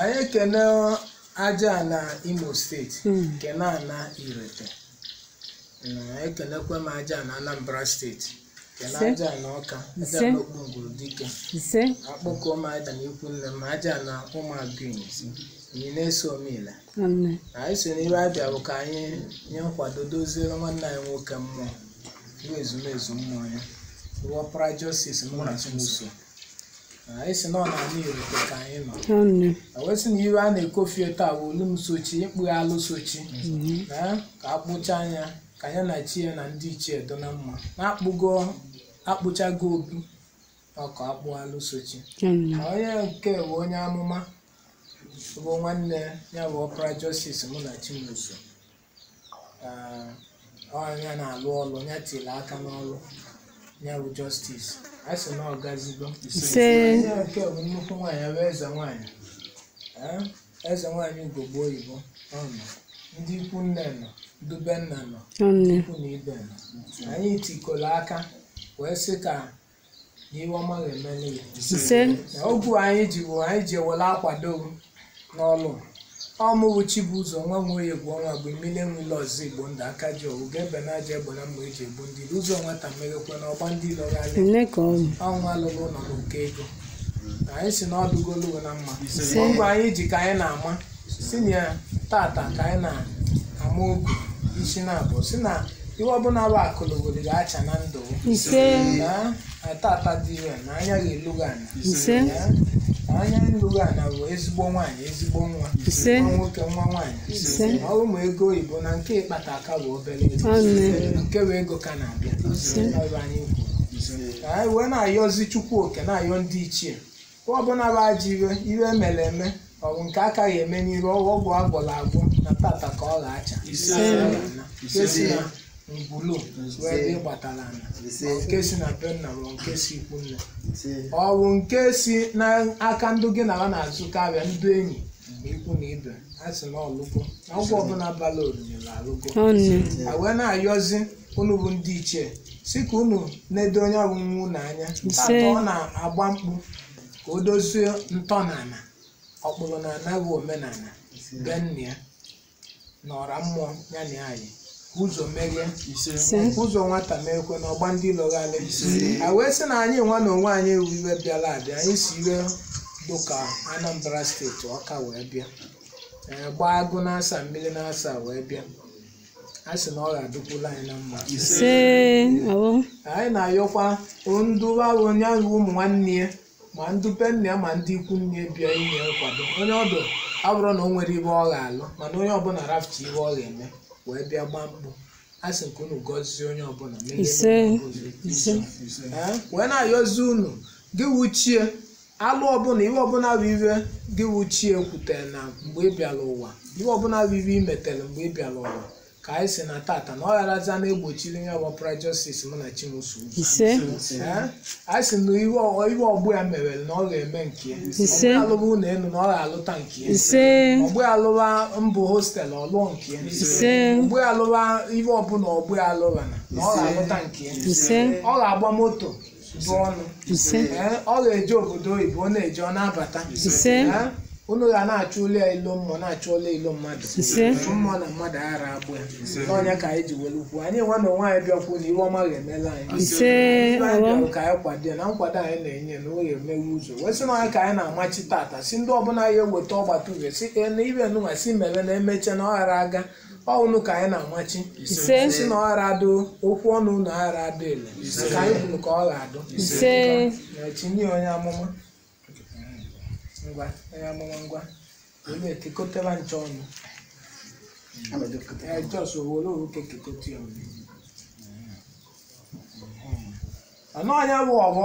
anyị ekene aja ana imo state Mm. kene ana irete na ekenekwe m aja ana anambra state kene Ise. aja ana ọka aja Ise. ana okpunguru dike ise akpọkọ m aja ana ikwu nne m aja ana ụmụagụinyezi anyị na-eso omile nwanne anyị so n'ive abịa bụ ka anyị nye nkwado doziere nwanne anyị nwoke mmụọ bụ ezumezu mmụọ ya bụ ọpara justice munachimso anyị sị na ọ n'ana irete ka anyị nọ ọnụ na wee sị na ive a na-ekofie taa bụ olu m sochi ịkpụ alụ sochi na ka akpụchaa ya ka ya na chi ya na ndị ichie dụ na mma na-akpụgo akpụchago obi na ọkụ akpụ alụ sochi ọnụ na onye nke bụ onye amụma bụ nwanne ya bụ ọpara justice munachimso ọ ya na-alụ ọlụ ya tiri aka n'ọlụ ya bụ justice a sị na ọ gazigo ise onye nke bụ nnukwu nwaanyị ya bụ eze nwaanyị Ee, eze nwaanyị ugogbe oyibo ọ nọ ndị ikwu nne nọ ndị be nna nọ ndị ikwu na ibe nọ anyị tikọrọ aka wee sị ka na ive ọma ga-emeli ya ise ogu anyị ji bụ anyị ji ewele akwado m n'ọlụ ọ mụ bụ chibụzọ nwa nwoye bụ ọnwa bụ mmiri enwele ọzọ igbo ndụ aka ji ọwụ ga-ebe na aja egbe na mma eji egbu ndị ilo. ụzọ nwata meghekwe na ọ gba ndị ilo ghalị nne ka ọ bụ ọnwa lụrụ ụlọ bụ nke ego anyị sị na ọ dụgolu gị na mma Ise. ogu anyị ji ka anyị na-ama sị na tata ka anyị na-ama ogu isi na-abụ sị na ihe ọbụla bụ akalogoli ga-acha na ndụ ise na tata dị ire na anya ga-elu gị ana ise Ya, na anya elu gị ana bụ ezigbo nwaanyị ezigbo nwa Ise. nwa nwoke nwa nwaanyị Ise. ma ọ bụ ma ego oyibo na nke ị kpata ka bụ obere ego Ọnụ. nke bụ ego ka na-abịa Ise. Ọ bụ anyị kwuru. Ka anyị wee na-ayọzi chukwu oke na-ayọ ndị ichie Ọ ọbụla bụ ajọ ive ive mere eme ọ bụ nke a ka ya-eme n'iru ọ bụ ọgwụ agwọrọ agwọ na tata ka ọ ga-acha Ise. nke si na ngwulu wee dị gbatara ana ma nke si na be nna ma nke si ikwu nne ọ bụ nke si n'aka ndị gị na ha na-azụkọ avịa ndị enyi na ikwu na ibe a sị na ọ lụgo na ọgwụ ọbụla bara oriri na alụgo Ọ nne. a wee na-ayọzi unu bụ ndị ichie sị ka unu na-edo onye bụ nwa unu anya tata ọ na-agba mkpu ka o dozie ntọ na ana ọkpụrụ na ana bụ omenala be nna ya na ọra mmụọ ya na anyị ụzọ meghe ụzọ nwata meekwe na ọ gba ndị ilo gharị a wee sị na anyị nwa na onwe anyị bụ ive bịara abịa anyị si ebe dụka anambra state ọka wee bịa ee, gbaa agụ n'asaa mmiri n'asaa wee bịa a sị na ọ ga-adụkwula anyị na mma ise ọwụ anyị na-ayọkwa ndị ụbawụ onye ahụ ụmụ nwanne ya ma ndị be nna ya ma ndị ikwu nne ya bịa inye nkwado onye ọdụ ọ bụrọ na o nwerọ ibe ọ ga-alụ mana onye ọbụla rafụta ibe ọ ga-eme wee bịa gbaa mkpụ a sị ka unu gọzie onye ọbụla menyere Ise. onye ọbụla. Ee, wee na-ayọzi unu gị wụ chi e alụ ọbụla iwe ọbụla bụ iwe gị wụ chi e kwutere na mgbe ị bịara ụwa iwe ọbụla bụ iwe i metere mgbe ị bịara ụwa ka anyị sị na tata na ọ gharaza na-egbochiri ya bụ Justice Munachimso ise Ee, anyị sị na ihe ọ- ihe ọgbọ ya merere na ọ ga-eme nke ya Ise. ọgbọ alụba ụlọ elu na ọ ga-alụta nke ya ise ọgbọ ya alụba ma ọ bụ hostel ọ lụọ nke ya ise ọgbọ ya alụba ihe ọbụla ọgbọ ya alụba na na ọ ga-alụta nke ya ise ọ ga-agba moto bụ ọnụ ise Ee, ọ ga-eje obodo oyibo ọ na-eje ọ na-abata ise Ee, unu ga na-achụlụ ya ilo mmụọ na-achụlụ ilo mmadụ ise mmụọ na mmadụ aghara egbu ya na ọ nya ka anyị ji were ekwu anyị nwa na onwe anyị bịa kwuo na iwe ọma ga-emela anyị ise Ibe anyị ọghọm bịara ka anyị kwado ya na nkwado anyị na-enye na ọ ga-emewe ụzọ wee sị na ọ nya ka anyị na-amachi tata sị ndị ọbụla ya-eweta ọgbata uhe sị ee na ibe nụnwa si mere na emeche na ọ ghara aga ọnụ ka anyị na-amachi Ise. sị na ọ ghara adụ okwu ọnụ unu aghara adụ ele ka anyị kwuru ka ọ ga-adụ ise Na tinye onye amụma ngwa onye amụma ngwa olu ekekọtara nche ọnụ Ee, just o were owu kekekọta ya ọnụ ọnụ onye bụ ọgbọ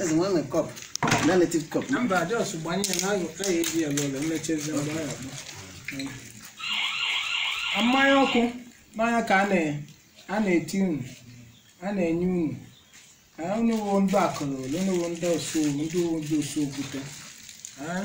Eze nwa nwere cup, na native cup. Mba, just gbanye ya na ayọ ka ya eji ya lọlọ emechezi mgbe ọ ya gba. Mmanya ọkụ n'anya ka a na- a na-eti unu a na-enye unu Ah, unu wụ ndị akụrụ ole unu wụ ndị osu ndị wụ ndị osu okwute Ah,